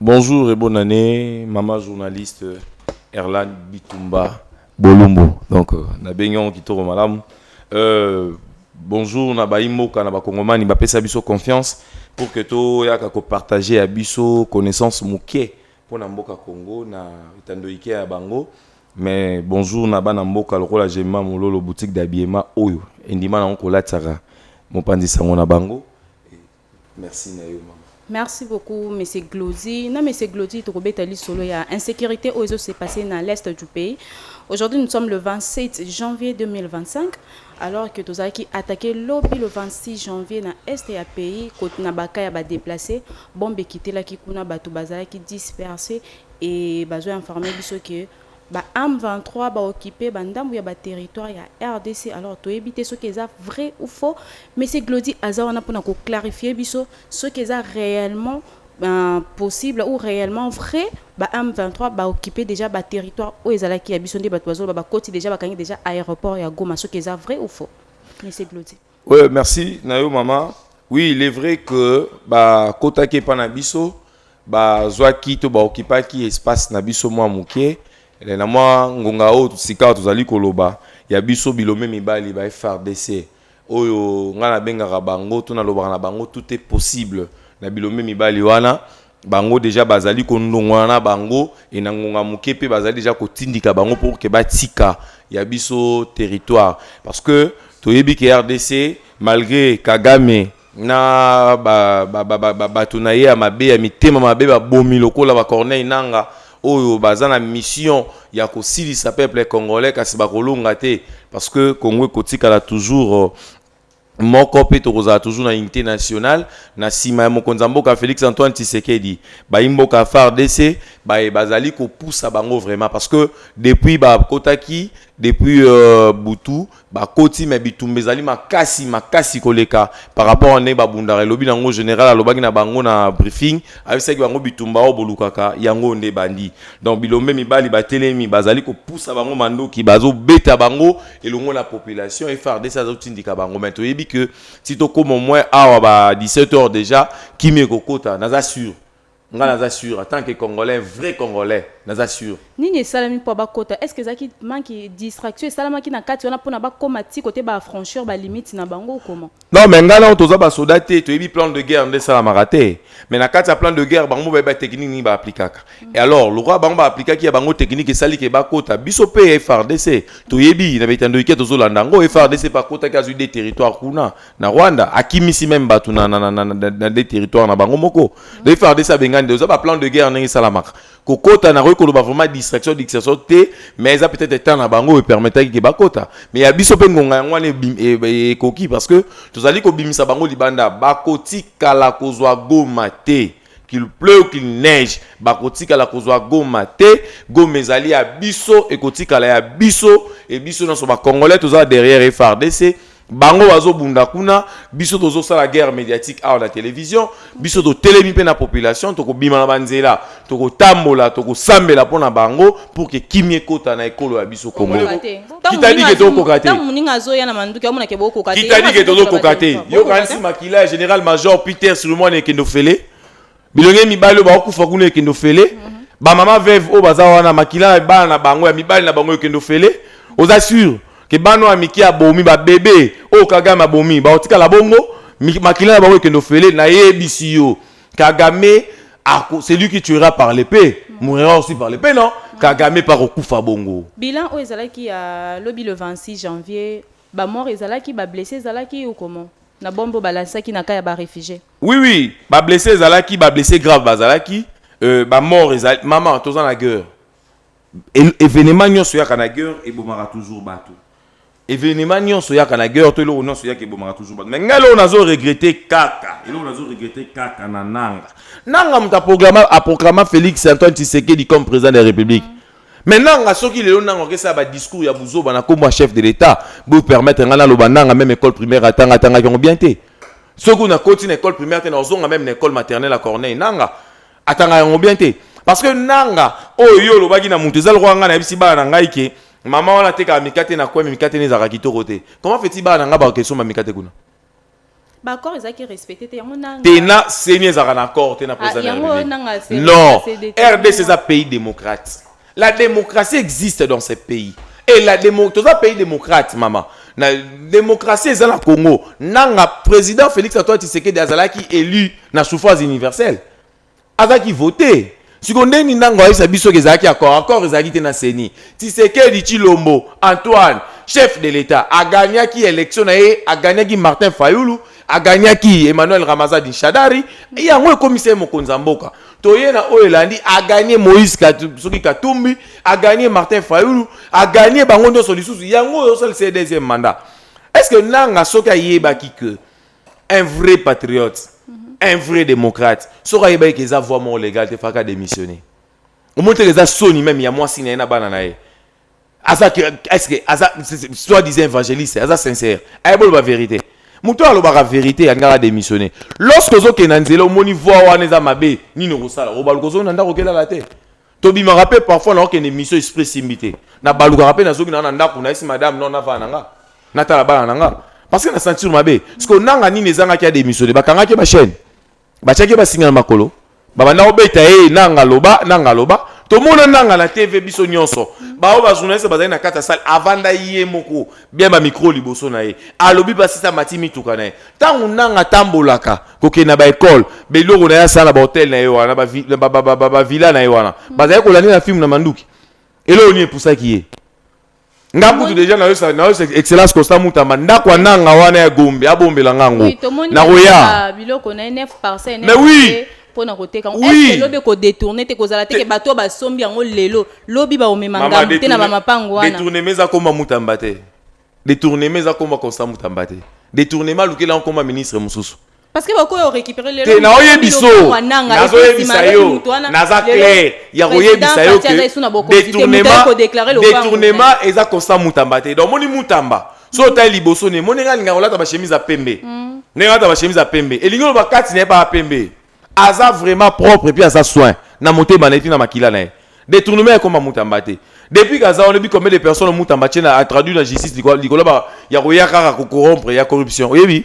Bonjour et bonne annee maman journaliste Erlane Bitumba Bolumbu donc na bengi yango kitoko malamu euh, bonjour na bayi mboka na bakongomani bapesa biso confiance pour que toyaka kopartage ya biso connaissance moke mpo na mboka Congo na etando ike ya bango mais bonjour na bana mboka lokola Gemma Mololo boutique d'habillement oyo endima nango kolatisaka mopanzi sango na bango Merci na yo maman. Merci beaucoup monsieur Glody. Na monsieur Glody tokobeta lisolo ya insecurite oyo ezo se passer na l'est du pays. Aujourd'hui nous sommes le 27 janvier 2025 alors que tozalaki attaqué lobi le 26 janvier na est ya pays kote na baka ya ba déplacés bombe ekitelaki kuna bato bazalaki dispersés et bazo informer biso que Ba M23 ba occupe ba ndambu ya ba territoires ya rdc alors toyebi te soki eza vrai ou faux mais ce Glody aza wana pona ko clarifier biso soki eza reellement possible ou reellement vrai ba M23 ba occupe dejà ba territoires oyo ezalaki ya biso nde batu bazoloba bakoti dejà bakangi dejà aeroport ya Goma soki eza vrai ou faux Monsieur Glody. Ouais, merci Nayo maman. Oui, il est vrai que ba kota ke pa na biso ba zwa ki to ba okipa ki espace na biso mwa muke eh, na mwa ngonga oyo sikawa tozali koloba ya biso bilombe mibali ba FRDC oyo ngai nabengaka bango to nalobaka na bango tout est possible na bilombe mibali wana Bango dejà bazali kondongwana na bango et na ngonga moke mpe bazali dejà kotindika bango pour que batika ya biso territoire parce que toyebi que rdc malgre Kagame na bato na ye ya mabe ya mitema mabe babomi lokola ba Corneille Nanga oyo baza na mission ya kosilisa peuple congolais kasi bakolonga te parce que Congo ekotikala toujours moko mpe tokozala toujours na unité nationale na sima ya mokonzi ya mboka Felix Antoine Tshisekedi bayi mboka FARDC baye bazali kopusa bango vraiment parce que depuis bakotaki depuis euh, butu bakoti mais bitumba ezali makasi makasi koleka par rapport ane babundaka elobi nango général alobaki na bango na briefing ayebisaki bango bitumba oyo bolukaka yango nde bandi donc bilombe mibali batelemi bazali kopusa bango mandoki bazobeta bango elongo na population FRDC azo tindika bango mais toyebi que ti tokoma moins awa ba 17 heures déjà kimia ekokota naza sur nga naza sur en tant que congolais vrai congolais naza sur nini esalami mpo bakota est ce que ezalaki manki distraction esalamaki na kati wana mpona bakoma ti kote ba affranchir ba limite na bango comment Non mais nga nao toza ba soda te toyebi plan de guerre nde esalamaka te mais na kati ya plan de guerre bango bayebi ba technique nini ba aplikaka et alors lokola bango ba aplikaki ya bango technique esali ke bakota biso mpe FRDC toyebi na bitando ike tozolanda yango FRDC mpe akotaki azwi de territoire kuna na Rwanda akimisi meme bato na, na, na, na, na, na de territoire na bango moko le FRDC abengani nde oza ba plan de guerre ndenge esalamaka kokota nakoki koloba vraiment distraction distraction te mais eza peut-être etat na bango oyo epermetaki ke bakota mais ya biso mpe ngonga yango wana ekoki e, e, parce que tozali kobimisa bango libanda bakotikala kozwa goma te qu'il pleuve ou qu'il neige bakotikala kozwa goma te goma ezali ya biso ekotikala ya biso e biso nyonso bacongolais tozala derrière frdc Bango bazo bunda kuna, biso tozo sala guerre mediatique awa na television, biso to telemi pe na population, toko bima na banzela, toko tambola, toko sambela pona bango pour que kimie kota na ekolo ya biso Congo. Qui t'a dit que to kokate? Tango muninga azo ya na manduki, omona ke bo kokate. Qui t'a dit que tozo kokate? Yo kanisi makila ya general major Peter Silomwani ekende ofele? bilenge mibali oyo bakokufa kuna ekende ofele mm -hmm. bamama veve oyo baza wana makila na bana na bango ya mibali na bango ekende ofele oza sur ke bana ya mike abomi babebe oyo kagame abomi bakotikala bongo makila na bango ekende ofele nayebisi yo kagame ako celui qui tuera par l'épée mourra aussi par l'épée non kagame mpe akokufa bongo bilan oyo ezalaki ya lobi le 26 janvier bamort ezalaki bablesse ezalaki ou comment na bombe oyo balansaki na ka ya barefugie Oui oui, ba blessés ezalaki, ba blessés graves bazalaki, euh, ba morts ezalaki. Maman, toza na guerre. Evenement nyonso yaka na guerre ebomaka toujours bato. Evenement nyonso yaka na guerre to eloko nyonso yaka ebomaka toujours bato. Mais ngai eloko nazo regretter kaka, eloko nazo regretter kaka na nanga. Nanga moto aprogramme aprogramme Félix Antoine Tshisekedi comme président de la République. Mm. Mais nanga soki lelo nanga okesa ba discours ya buzoba na kombo chef de l'État, bo permettre ngana loba nanga même école primaire atanga tanga yango bien te. Soki kuna koti na école primaire te na ozonga même na école maternelle à Corneille nanga atanga yango bien te parce que nanga oyo yo olobaki na mutu eza lokola ngai nayebisi bana na ngai ke mama wana atekaka mikate na kweme mikate ne ezalaka kitoko te comment fait-il bana na ngai bakokende somba mikate kuna baaccord ezalaki respecte te yango nanga te na seni ezalaka na accord te na président de la république non rdc eza pays démocrate La democratie existe dans ce pays et la demo toza pays démocrate mama na démocratie eza na Congo nanga président Félix Antoine Tshisekedi azalaki élu na suffrage universel azalaki voté siko ndenge nanga ayebisa biso ke ezalaki accord accord ezalaki te na CENI Tshisekedi Tshilombo Antoine chef de l'État a gagnaki élection na ye a gagnaki Martin Fayulu a gagnaki Emmanuel Ramazadi Shadari et yango ekomisa ye mokonzi ya mboka toye na oyo elandi a gagné Moïse soki Katumbi a gagné Martin Fayulu a gagné bango nyonso lisusu yango oyo osalisa ye deuxième mandat est ce que nanga soki ayebaki que un vrai patriote un vrai démocrate soki ayebaki ke eza voie moko légale te faka démissionner omoni teke eza soni meme ya mwasi na ye na bana na ye aza est-ce que aza soit disant évangéliste aza sincère ayeboloba eh, vérité moto alobaka vérité ya ngaka démissionné lorsque ozokende na nzela omoni voi wana eza mabe nini okosala obaluka ozongi na ndako okelala te tobimaka mpe parfois naokende émission esprit esimbi te nabalukaka mpe nazongi naa na ndako nayesi madame non navaa na nga natala bana na nga parce que na sentir mabe sikoyo nanga nini ezangaki ya démissionné bakangaki bachaîne Batiaki ye basinga na makolo, babanda kobeta ye nanga loba nanga loba. Tomona nanga na TV biso nyonso, baoyo bajournaliste bazali na kati ya sale, avanda ye moko bia ba micro liboso na ye, alobi basisa mati mituka na ye. Ntango nanga atambolaka kokende na ba ecole, baeloko na ye asala na ba hotel na ye wana, ba villa na ye wana, bazali kolande na film na manduki. Eloko nini epusaki ye? nga kutu deja nayosa nayosa excellence constant mutamba ndako ya nanga wana ya gombe abombela nga yango nakoya biloko na ye 9 parcelle mais oui mpona koteka yango oui. ese lobi kodetourne te kozala teke bato oyo basombi yango lelo lobi baomema ngambo te na bamapango wana detournema eza koma mutamba te detournema eza koma constant mutamba te detournema alukela yango koma ministre mosusu parce que bakoki ko récupérer lelo te naoyebisa yo nazoyebisa yo naza clair ya koyebisa yo ke détournement détournement eza constant mutamba te donc omoni mutamba so mm. otali liboso ne moni nga alinga kolata bachemise ya pembe mm. ndenge alata bachemise ya pembe elingi oloba kati na ye baa pembe aza vraiment propre puis aza soin na motema na ye ti na makila na ye détournement ekoma mutamba te depuis kaza wana oyebi combien de personnes mutamba tie na atraduit na justice likolo ya koya kaka kokorompre ya corruption oyebi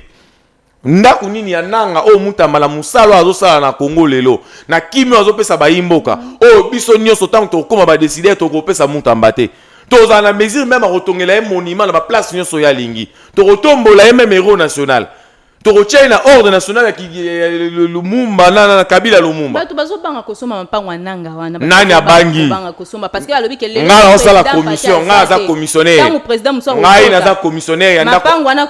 Ndaku nini ya nanga oyo mutambala musala oyo azosala na Congo lelo na kimi oyo azopesa bayimboka oyo biso nyonso ntango tokokoma ba décideurs tokopesa mutamba te tozala na mesure meme akotongela ye monument na ba place nyonso ye alingi tokotombola ye meme héros national tokotia ye na ordre national ya lumumba na kabila lumumba bato bazobanga kosomba mapango ya nanga nani abangi ngai naosala commission ngai aza commissionnaire ngai naza commissionnaire ya ndakomama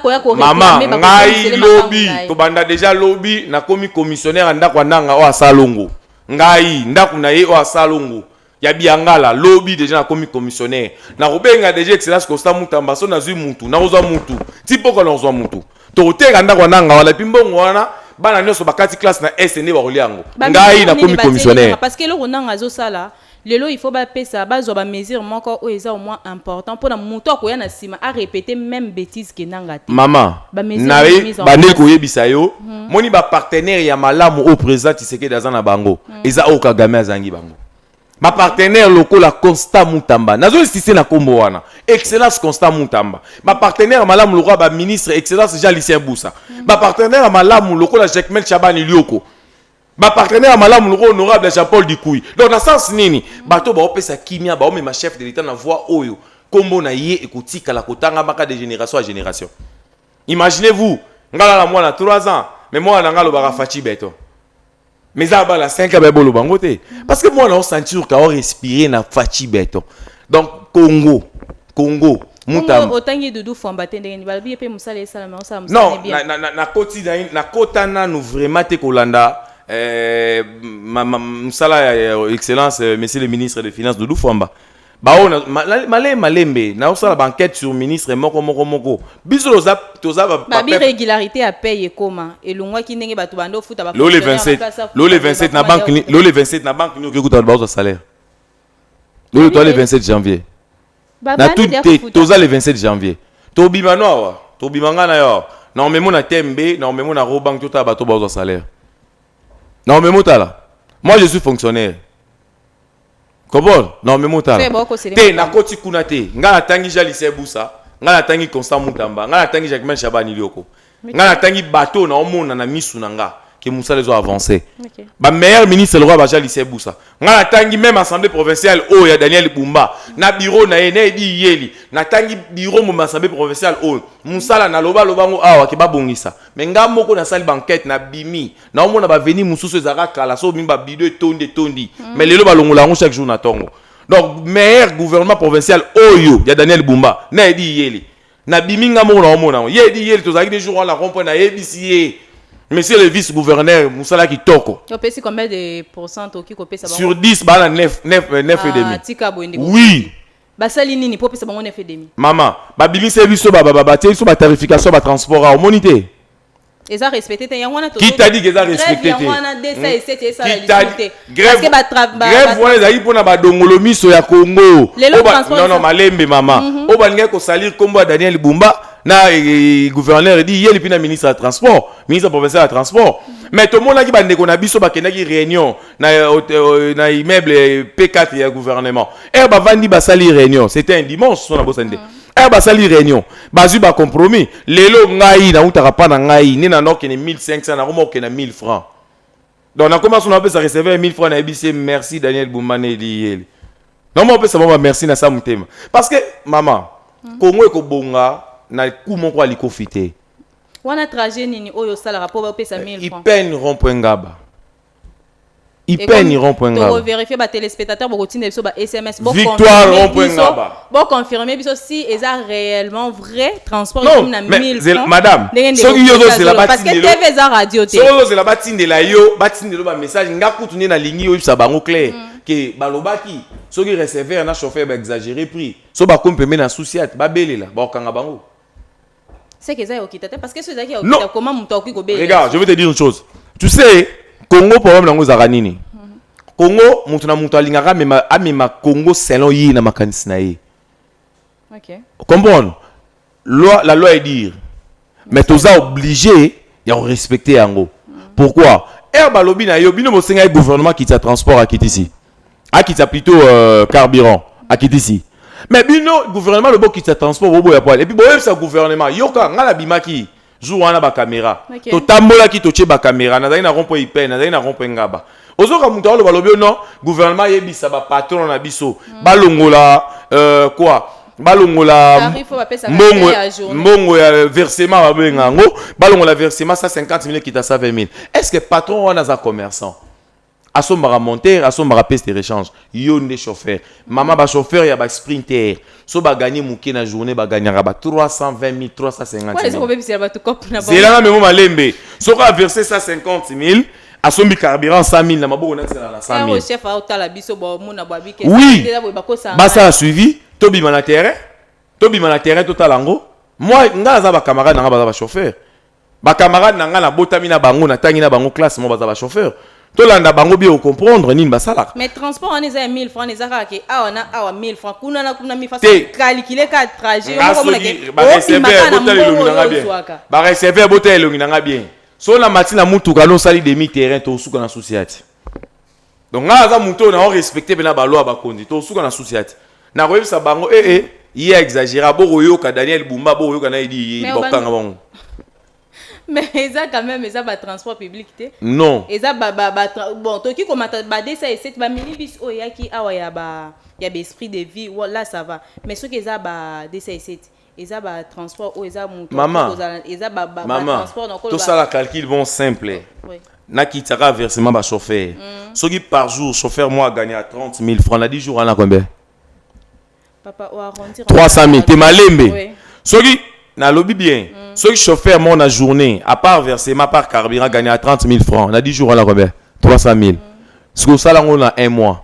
ngai lobi tobanda deja lobi nakomi commissionnaire ya ndako ya ndanga oyo asalongo ngai ndako na ye oyo asalongo ya biangala lobi deja nakomi commissionnaire nakobenga deja excellence costa mutamba so nazwi mutu nakozwa mutu ti mpoko nakozwa mutu tokoteka ndako ya nanga wana epi mbongo wana bana nyonso bakati classe na est nde bakolia yango ngai nakomi commissionnaire parce que eloko nanga azosala lelo il faut bapesa bazwa bamesure moko oyo eza au moins important mpona moto akoya na nsima arepete même bétise ke nanga te mama bande koyebisa yo hmm. moni bapartenaire ya malamu oyo président tisekedi aza na bango hmm. eza oyo kagame azangi bango bapartenaire lokola constat mutamba nazo insiste na kombo wana excellence constat mutamba bapartenaire malamu lokola baministre excellence jean lucien busa bapartenaire malamu lokola jacmel chabani lioko bapartenaire malamu lokola honorable jean paul dikui donc na sens nini bato baopesa kimia baomema chef de l'etat na voie oyo kombo na ye ekotikala kotangamaka de génération ya génération imaginez vous ngala na mwana 3 ans mais mwana na ngai alobaka faci beton mais eza bala 5 ans boloba yango te parce que mwana osentir ka orespire na faci beton donc congo congo otangi dudu fwamba te ndenge balobi ye mpe mosala esalama osala mosalakoti nakota nanu vraiment te kolanda eh, mosala ya excellence euh, monsieur le ministre de finance dudu fwamba baoyo na- ma- na- malembe malembe naosala bankete sur ministre moko moko moko biso toza toza ba- ba- babi peuple- régularité ya paye ekoma elongwaki ndenge bato bando ofuta ba lole fonctionnaire 27 bakasa futa, lole 27 na bakoma banque ni- yao. lole 27 na banque nini okoki kuta bato bazwa salaire lole toza le Babi- 27 janvier Ba- na banda tout deya te kofuta. toza le 27 janvier tobima no awa tobima ngai na yo awa na omemo na tmb na omemo na robank totala bato bazwa salaire na omemo tala moi je suis fonctionnaire kobon na omemi otala te nakoti kuna te ngai natangi ja lise busa ngai natangi constant mutamba ngai natangi jacquemain shabani lioko ngai natangi bato na omona na misu na nga ke mosala ezo avance okay. ba meilleur ministre lokola baja lise busa ngai natangi meme assemblée provinciale oyo ya daniel bumba na bureau na ye nayebi iyeli natangi bureau moma assemblée provinciale oyo mosala naloba loba yango awa ke babongisa me ngai moko nasali banquete nabimi naomona baveni mosusu ezalaka kala so mimi babido etondi etondi mm. mais lelo balongola yango chaque jour na ntongo donc meilleur gouvernement provincial oyo ya daniel bumba na edi yeli nabimi nga moko naomona yango ye edi yeli tozalaki de jour wana na rompoint nayebisi ye monsieur le vice gouverneur mosala kitoko opesi combien de pourcent okoki kopesa sur 10 baa na 9 9 9 et demi ah, tika boye ndeko oui basali nini mpo opesa bango 9 et demi mama babimisa biso batie biso batarification batransport awa omoni te eza respecte te yango wana qui t'a dit que eza respecte te yango wana 207 esa la lisusu te parce que ba travail grève wana ezali pona ba dongolo miso ya Congo non non malembe maman mhm. oyo balingai ko salir kombo ya Daniel Bumba na eh, eh, gouverneur edi ye lipi na ministre ya transport ministre provincial ya transport mais tomonaki bandeko na biso bakendaki réunion na, euh, na immeuble p4 ya gouvernement ere bavandi basali réunion c'était un dimanche so na bosani te mhm. aya basali réunion bazwi ba compromis lelo ngai nautaka pa na ngai nde na nokende 1500 nakoma kokenda 1000 francs donc nakoma so napesa receveur ya 1000 francs nayebisi ye merci daniel bumbane eliyeli nakoma kopesa bango bamerci na sa motema parce que mama hmm. kongo ekobonga na ku moko ya likofi te wana trajet nini oyo osalaka mpo bapesa 1000 francs ipen rond point ngaba Ipeni rond point ngaba. vérifier ba téléspectateurs boko tinda biso ba SMS bo Victoire rond point ngaba. Bo confirmer biso si eza réellement vrai transport comme na 1000 francs. Madame, soki yo zo zela ba parce que TV eza radio te. Soki yo zela ba tindela yo, ba tindela ba message nga kutu ne na lingi yo bisa bango clair mm. que balobaki soki receveur na chauffeur ba exagérer prix. So ba compte pembe na souci at ba belela ba kanga bango. C'est que ça est okita parce que ça est okita comment muto akoki ko bela. Regarde, je vais te dire une chose. Tu sais, Congo problème nango ezaka nini? Congo mutu na mutu alingaka amema amema Congo selon ye na makanisi na ye. OK. Comprendre? Loi la loi est dire mais toza obligé ya ko respecter yango. Pourquoi? Air balobi na yo bino bosenga gouvernement qui t'a transport à Kitisi. Mm. akitisa plutôt euh, carburant akitisi mais bino gouvernement lobo kitisa transport boboya poil epuis boyebisa gouvernement yoka ngai nabimaki jour wana bakamera okay. totambolaki totie bakamera nazali na rompo ipe nazali na rompo engaba ozoka moto aloba lobi no gouvernement ayebisa bapatron na biso mm. balongola euh, quoi balongola mbongo mbongo ya versement babenga yango balongola versement 150 000 ekita 120 000 est ce que patron wana aza commerçant asombaka monteur asombaka pièce de rechange yo nde chauffeur mama ba chauffeur ya ba sprinter so ba gagner muke na journée ba gagnaka ba 320000 350000 zela na memo malembe soko a verser 150000 asombi carburant 100000 na maboko na tsela na 100000 chef aotala biso bo mona bo abike oui basala suivi tobima na terrain tobima na terrain totala yango moi ngai aza ba camarade na ngai baza ba chauffeur Ba camarades na nga nabotami na bango natangi na bango classe moko baza ba chauffeur tolanda bango bie ocomprendre nini basalaka mais transport wana eza ya 1000 francs eza kaka ke awa na awa 1000 francs kuna na kuna mifaso Te. calcule ka trajet yo moko omonake obimaka na mbongo oyo ozwaka bareserve botala elongi na nga bien so na mati na mutuka no osali demi terrain tosuka na susi ati donc ngai aza moto oyo nao respecte mpena balwa bakonzi tosuka na susi ati nakoyebisa bango ee eh, eh, ye aexagera bokoyoka daniel bumba bokoyoka na edi ye bakokanga bango mais eza quand même eza batransport public te non eza bon toki komata badesa esete baminibus oyo eyaki awa ya ba ya baesprit de vie là ça va mais soki eza badesa esete eza ba transport oyo eza mutu Maman. akoki kozala eza ba ba, ba mama transport na koloba tosala calcul bon simple Oui. nakitisaka versement ba chauffeur soki par jour chauffeur moko agagna 30 000 francs na 10 jours wana combien papa o arrondir 300 000 te malembe Oui. soki nalobi bien soki chauffeur moko na journée à part versement à part carburant agagna 30 000 francs na 10 jours wana combien 300 000 sikoyo osala yango na un mois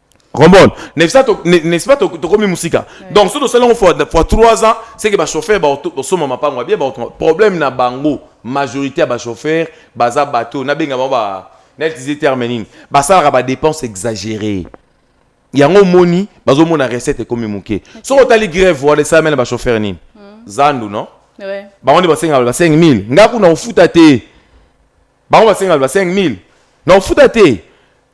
Comprendre N'est-ce pas, n'est-ce pas, tokomi musika. Donc, si nous salons fois, fois 3 ans, c'est que les chauffeurs, ils sont ma part, bien, problème na bango, majorité des chauffeurs, baza bateau, na benga ba, na utilisé terme nini, basala ba dépenses exagérées. Yango moni, bazo mona recette ekomi muke. So otali grève wala ça mena ba chauffeur nini? Hmm. Zandu non? Ouais. Ba on ba senga ba 5000. Ngaku na ofuta te. bango basenga liba 5000 na ofuta te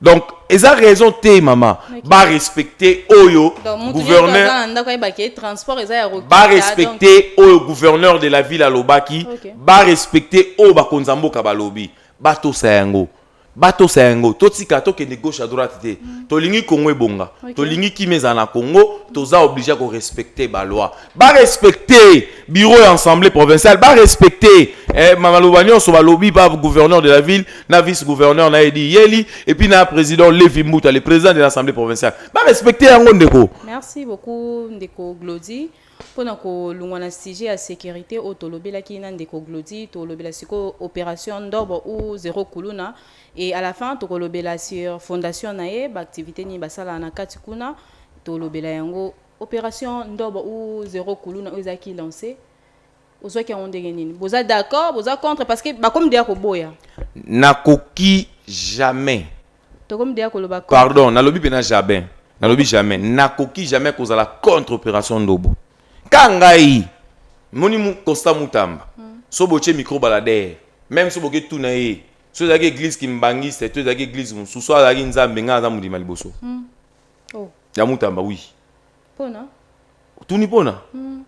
donc eza raison te mama ba respecte oyo gouverneur ba respecte oyo gouverneur de la ville alobaki ba respecte oyo bakonzi ya mboka balobi batosa yango batosa yango totika tokende gauche à droite te mm. tolingi kongo ebonga tolingi kimia ezala na kongo toza oblige ya korespecte baloi ba respecter bureau ya assemblée provinciale ba respecter eh, maloba nyonso balobi ba gouverneur de la ville na vice gouverneur na edi yeli et puis na président levi mbuta le président de l'assemblée provinciale ba respecter yango ndeko merci beaucoup ndeko glodi mpo na kolongwa na sujet ya sécurité oyo tolobelaki na ndeko glodi tolobela sikoyo opération ndobo ou zero kuluna et à la fin tokolobela sur fondation na ye baactivité nini basalaka na kati kuna tolobela yango Operation ndobo ou zero kuluna oyo ezalaki lance ozwaki yango ndenge nini boza d'accord boza contre parce que bakomi deya koboya nakoki jamais tokomi deya koloba contre pardon nalobi pena jabin nalobi jamais nakoki jamais kozala contre operation ndobo ka ngai moni mu- costa mutamba so botie micro balader meme so boke tuna ye so ezalaki eglise kimbangiste to ezalaki eglise mosusu so azalaki nzambe ngai naza modima liboso oh. ya mutamba oui pona otuni pona mm.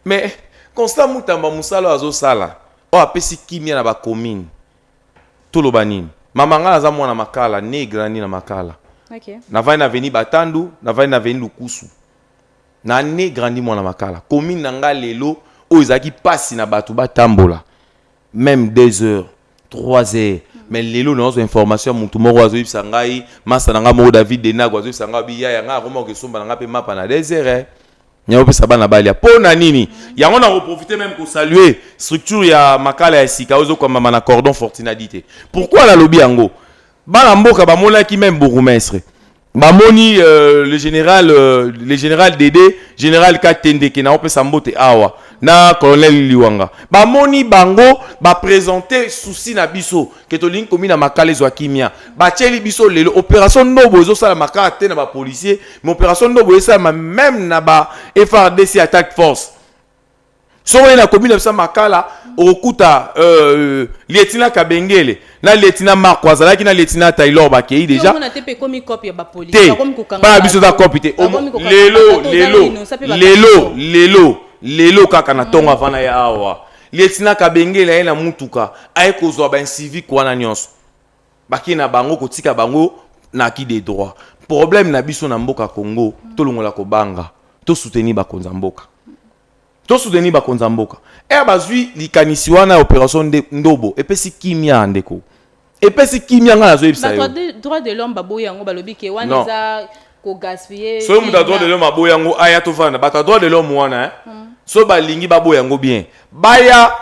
mais constant mutamba mosala oyo azosala oyo apesi kimia na bacommune toloba nini mama ngai naza mwana makala ne grandi na makala okay. navandi na aveni batandu navandi na aveni lukusu na ne grandi mwana makala commune na ngai lelo oyo ezalaki mpasi na bato batambola meme deux heures 3 heures mais lelo nazwa information ya mutu moko azoyebisa ngai masta na ngai moko david denago azoyebisa ngai abi yaya ngai akoma kokesomba na ngai mpe mapa na 2 heures eh. nyakopesa bana balia mpo na nini yango nakoprofite meme kosalue structure ya makala ya sika oyo ezokwambama na cordon fortinadi te pourkui nalobi yango bana mboka bamonaki meme bourgmestre bamoni euh, le général euh, le général dede général katendeke naopesa mbote awa na colonel liwanga bamoni bango bapresente souci na biso ke tolingi komi na makala ezwa kimia batieli biso lelo opération ndobo ezosalama kaka te na bapolicier mais opération ndobo esalama meme na ba frdc attaque force soko ye na komi na bisa makala okokuta euh, lietina kabengele na lietina marco azalaki na lietina taylor bakei deja te bana biso eza kopi te lelo lelo lelo lelo lelo kaka na ntongo mm. avana ye awa lietina kabengele aye na mutuka aye kozwa baincivique wana nyonso Bake na bango kotika bango na ki de droit. Problème na biso na mboka Congo, tolongola kobanga, to soutenir bakonza mboka. To soutenir bakonza mboka. Ere bazui likanisi wana ya operation nde ndobo epesi kimia ndeko. Epesi kimia nga nazo yebisa yo. Bato ya droit de l'homme baboyi yango balobi ke wana eza ko gaspiller soki moto adroit de l'homme aboya yango aya tovanda na bato adroit de l'homme wana eh? Hmm. soki balingi baboya yango bien baya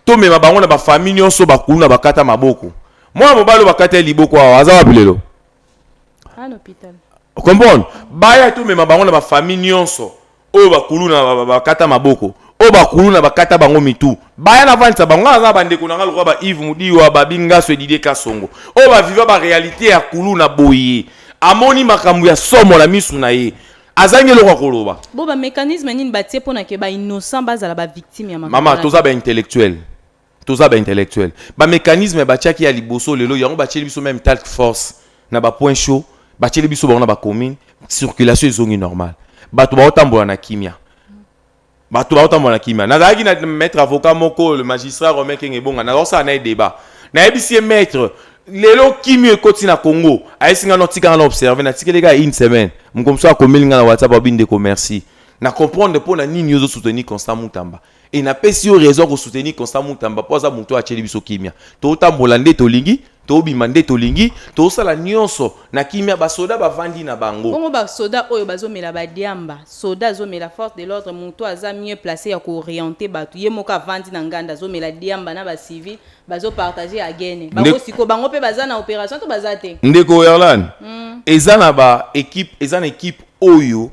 tomema bango na bafamille nyonso bakulu na bakata maboko mwana mobali oyo bakata ye liboko awa aza wapi lelo comprendre baya tomema bango na bafamille nyonso oyo bakuluna ba- ba- bakata maboko oyo bakuluna bakata bango mitu baya navandisa bango ngai naza na bandeko na ngai lokola ba ive mudiwa babi ngaso edidie kasongo oyo baviva barealité ya kuluna boye amoni makambo ya somo na misu na ye azangi eloko ya koloba Bo ba mécanisme nini batie pona ke ba innocent bazala ba victime ya makambo mama wana? toza baintellectuel Toza ba intellectuels. Ba mecanismes batiaki ya liboso lelo yango batieli biso meme talk force na ba points chauds batieli biso bango na ba communes circulation ezongi normal. Bato baotambola na kimia. Bato baotambola na kimia. Nazalaki na maître avocat moko le magistrat Romain Kenge Bonga nazosala na ye debat. Nayebisi ye maître lelo kimio ekoti na Congo ayesi nga no tika nga na observer natikeli kaka une semaine moko mosusu akomeli nga na WhatsApp alobi ndeko merci na comprendre mpo na nini yo ozo soutenir Constant Mutamba. Et na pesi yo raison ko soutenir Constant Mutamba po aza mutu atieli biso kimia. To tambola nde tolingi, to bima nde tolingi, to sala nionso na kimia ba soda ba vandi na bango. Bongo ba soda oyo bazo mela ba diamba, soda azo mela force de l'ordre mutu aza mieux place ya ko orienter batu ye moko avandi na nganda azo mela diamba na ba civils bazo partager agene. Nde- Bango sikoyo bango pe baza na operation to baza te? Ndeko Erlan, eza na ba equipe, eza na equipe oyo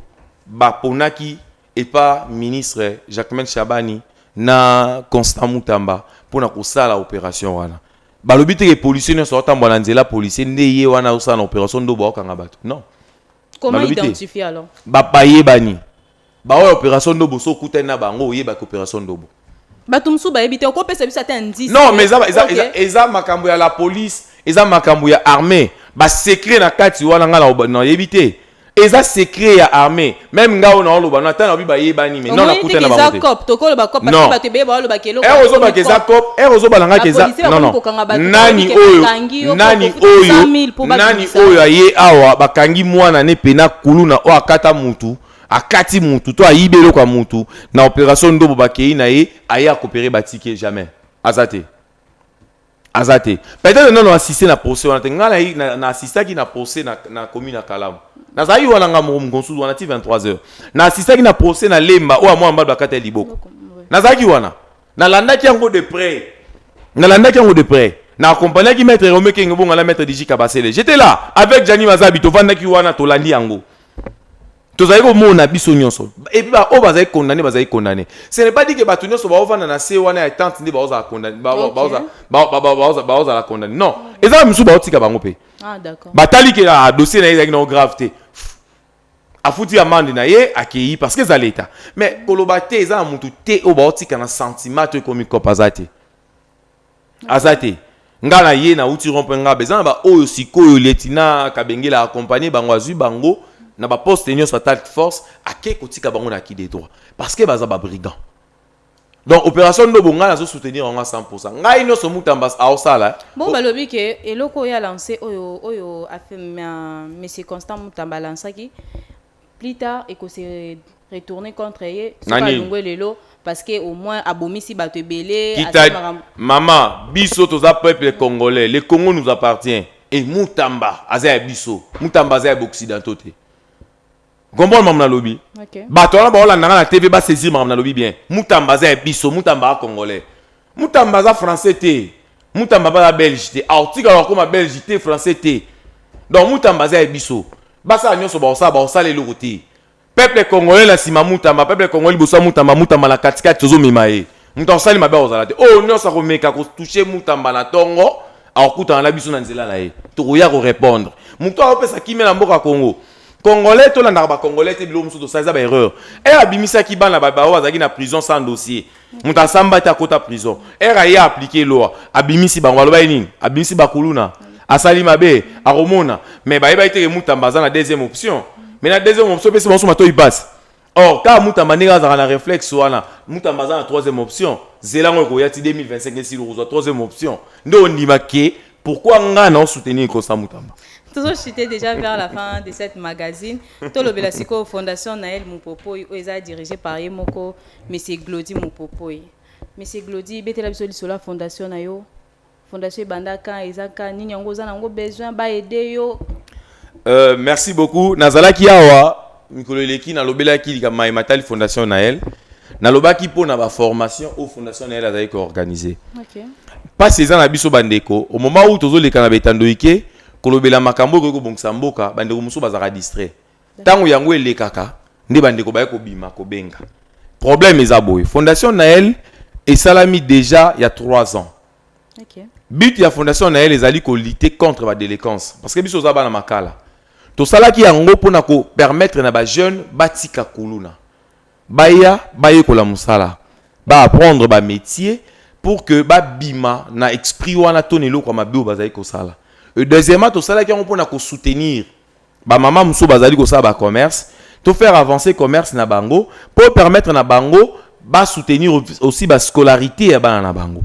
ba ponaki epa ministre Jacquemain Shabani na Constant Mutamba pona kosala operation wana. Balobi te ke policier nionso aotambua na nzela policier nde ye wana azosala na operation ndobo aokanga batu non. Comment Balobi te. identifier alors? Ba bayebani. Baoyo ya operation ndobo soki okutani na bango oyebake operation ndobo. bato mosusu bayebi te okopesa biso ata indice non mais eza, eza, okay. eza, eza makambo ya la police eza makambo ya armée basecret na kati wana ngai nayebi te eza secret ya armée même ngai oyo naoloba na ntango nabi bayebani me non nakuta na bango ere ozobaka eza cop ere ozobala ngaki eza nono nani oyo nani oyo nani oyo aye awa bakangi mwana ne pena kuluna oyo akata mutu Akati mutu to ayibi eloko ya mutu na operation ndobo bakeyi na ye aye a coopere ba tickets jamais aza te aza te peut-être nanu assiste na procès wana te nga na, na, na assistaki na procès na, na commune ya kalamu nazalaki wana nga moko mokonsusu wana ti 23 heures na assistaki na procès na lemba oyo amwana mbali bakata ya liboko nazalaki wana nalandaki yango de près nalandaki yango de près na accompagnaki maître Rome Kenge bonga na maître Diji Kabasele j'étais là avec Gianni Mazabi tovandaki wana tolandi yango tozali komona biso nyonso epuis baoyo bazali kondane bazali kondane ce n'est pas dit que bato nyonso baovanda na se wana ya tante nde baozala kondane baozala kondane non eza mosusu baotika bango mpe ah, batali ke ah, dossier na ye ezalaki nao grave te afuti amande na ye akei parce que eza leta mais koloba te eza na motu te oyo baotika na sentiment to ekomi kopa aza te aza te nga na ye nauti rompoint ngaba eza na baoyo sikoyo lietina kabengela accompagne bango azwi bango na baposte nyonso atalk force ake kotika bango na ki de droit parce que baza babrigand donc opération ndobo ngai nazo soutenir yango 100 ngai nyonso mutambas aosala eh. bon balobi ke eloko oyo alance oyo oyo monsieur constant mutamba alansaki plus tard eko se retourner contre ye soki Nani? alongwe lelo parce que au moins abomisi bato ebele asali Kita makambo mama biso toza peuple congolais le congo nous appartient et mutamba aza ya biso mutamba aza ya ba occidentaux te comprendre makambo nalobi Ok. bato wana baolanda nga na tv ba saisir makambo nalobi bien mutamba aza ya biso mutamba a congolais Mutamba aza français te. Mutamba baza belge te. Aotikala akoma belge te, français te. Donc Mutamba aza ya biso. Basala nyonso bakosala, bakosala eloko te. Peuple congolais na sima Mutamba, peuple congolais liboso Mutamba, Mutamba na katikati tozomema ye. Moto akosali mabe akozala te. Oyo nyonso akomeka kotouche Mutamba na tongo, akokutana na biso na nzela na ye. Tokoya ko repondre. Moto akopesa kimia na mboka Congo. Congolais tolandaka ba congolais te biloko mosusu tosala eza ba erreur. Heure abimisaki bana ba baoyo bazalaki na prison sans dossier. moto asamba te akota prison ere aye aplike loi abimisi bango baloba ye nini abimisi bakuluna asali mabe akomona me bayebaki teke mutamba aza na deuxième option me na deuxième option mpesi banso matoi basi or kaka mutamba ndenge azalaka na reflexe wana mutamba aza na troisième option zela yango ekoya ti 2025 esili okozwa troisième option nde ondima ke pourquoi ngai na osoutenir kosa mutamba toujours chute déjà vers la fin de cette magazine tolobela sikoyo fondation nael mupopoi oyo eza dirigé par ye moko Monsieur Glody Mupopoi. Monsieur Glody, betela biso lisolo ya fondation na yo. Fondation ebanda quand, eza quand, nini yango oza nango besoin ba aider yo? Euh, merci beaucoup. Nazalaki awa mikolo eleki nalobelaki likambo maye matali fondation Nael. Nalobaki mpo na ba formation au fondation Nael azali ko organiser. Okay. Pasi eza na biso bandeko, au moment où tozoleka na betandoike kolobela makambo ekoki kobongisa mboka, bandeko mosusu bazalaka distrait. Tango yango elekaka nde ba ndeko baye kobima kobenga. Problème eza boye, fondation Naël esalami dejà ya 3 ans. Okay. But ya fondation Naël ezali ko lutter contre ba delinquance parce que biso oza bana makala. Tosalaki yango pona ko permettre na ba jeunes batika kuluna. Baya bayekola musala, ba apprendre ba metiers pour que ba bima na esprit wana to na eloko ya mabe oyo bazali kosala. Et deuxièmement tosalaki yango pona ko soutenir Ba mama mosusu bazali kosala ba commerce to faire avancer commerce na bango pour permettre na bango ba soutenir aussi ba scolarité ya bana na bango.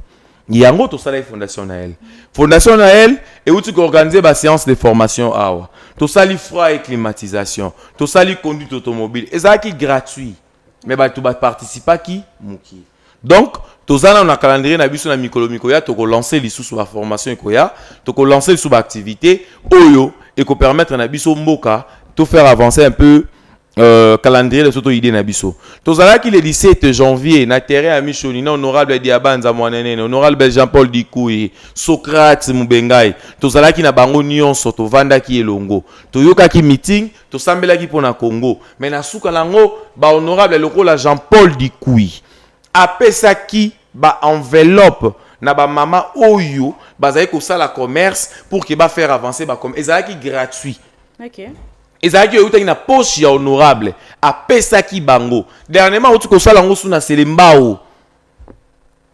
Yango tosalaki Fondation Naël. Fondation Naël euti ko organiser ba séances de formation awa. Tosali froid et climatisation, tosali conduite automobile, ezalaki gratuit. Mais bato ba participaki mukie. Donc toza nanu na calendrier na biso na mikolo mikoya toko lancer lisusu ba formation ekoya, toko lancer lisusu ba activites oyo eko permettre na biso mboka to faire avancer un peu Euh, calendrier de soto idée na biso tozalaki le 17 janvier na terrain ya mishoni na honorable diabanza mwananene honorable jean paul dikui socrate mubengai tozalaki na bango nyonso tovandaki elongo toyokaki meeting Tosambelaki mpo na Congo, mais na suka nango ba honorable lokola Jean-Paul Dikuy apesaki ba enveloppe na ba mama oyo bazali kosala commerce pour que ba faire avancer ba commerce ezalaki gratuit. Okay. ezalaki oyo eutaki na poche ya honorable apesaki bango dernièrement auti kosala yango su na selembao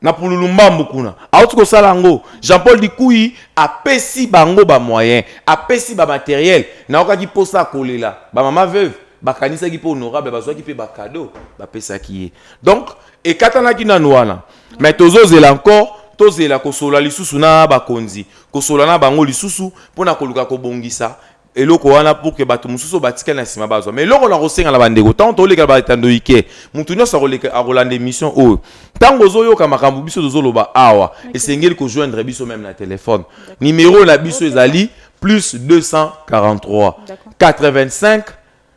na pululu mbambu kuna auti kosala yango jean paul dikuyi apesi bango bamoyen apesi bamateriel nayokaki mposa akolela bamama veuve bakanisaki mpe honorable bazwaki mpe bakado bapesaki ye donc ekatanaki nanu wana me tozozela encore tozela kosola lisusu na bakonzi kosola na bango lisusu mpo na koluka kobongisa eloko wana pour que bato mosusu batikali na nsima bazwa ma eloko na kosenga na bandeko ntango tolekela baetando ike moto nyonso akoleka akolanda émission oyo ntango ozoyoka makambo biso tozoloba awa esengeli kojoindre biso meme na telefone nimero na biso ezali plus 243 85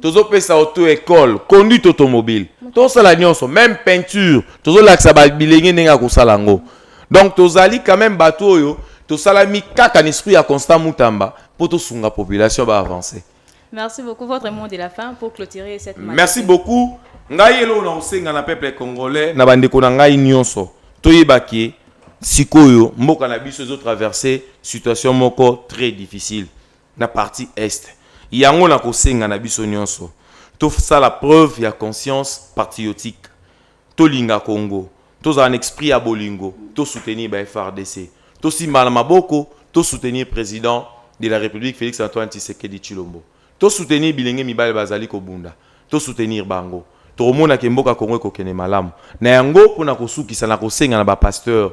tozopesa auto ecole conduite automobile tosala nyonso meme peinture tozolakisa bilenge ndenge ya kosala yango donc tozali quand même bato oyo tosalami kaka na esprit ya constant mutamba mpo tosunga population baavance merci beaucoup votre mot de la fin pour clôturer cette merci beaucoup ngai eloko na kosenga na peuple congolais na bandeko na ngai nyonso toyeba ke sikoyo mboka na biso ezotraverse situation moko très difficile na partie Est yango na kosenga na biso nionso to sala preuve ya conscience patriotique to linga Congo to zala na esprit ya bolingo to soutenir ba FARDC to simbana maboko to soutenir president de la Republique Felix Antoine Tshisekedi Tshilombo to soutenir bilenge mibali ba zali ko bunda to soutenir bango toko mona ke mboka Congo eko kende malamu na yango pona ko sukisa na kosenga na ba pasteurs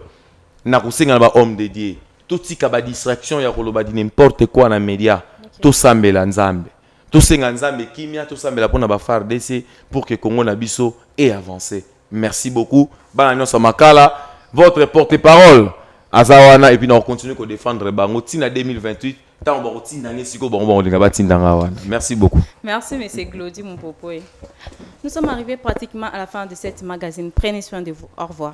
na kosenga na ba hommes de Dieu Totika ba distraction ya koloba du n'importe quoi na media. Tosambela Nzambe. Tosenga Nzambe kimia, tosambela mpo na ba fardc pour que Congo na biso e avancer. Merci beaucoup. Bana nionso ya Makala, votre porte parole aza wana et puis nako continuer ko defendre bango ti na 2028 ntango bakotinda ngai sikoyo bango bakolinga batinda ngai wana merci beaucoup merci monsieur glodi mopopoe nous sommes arrivés pratiquement à la fin de cette magazine prenez soin de vous au revoir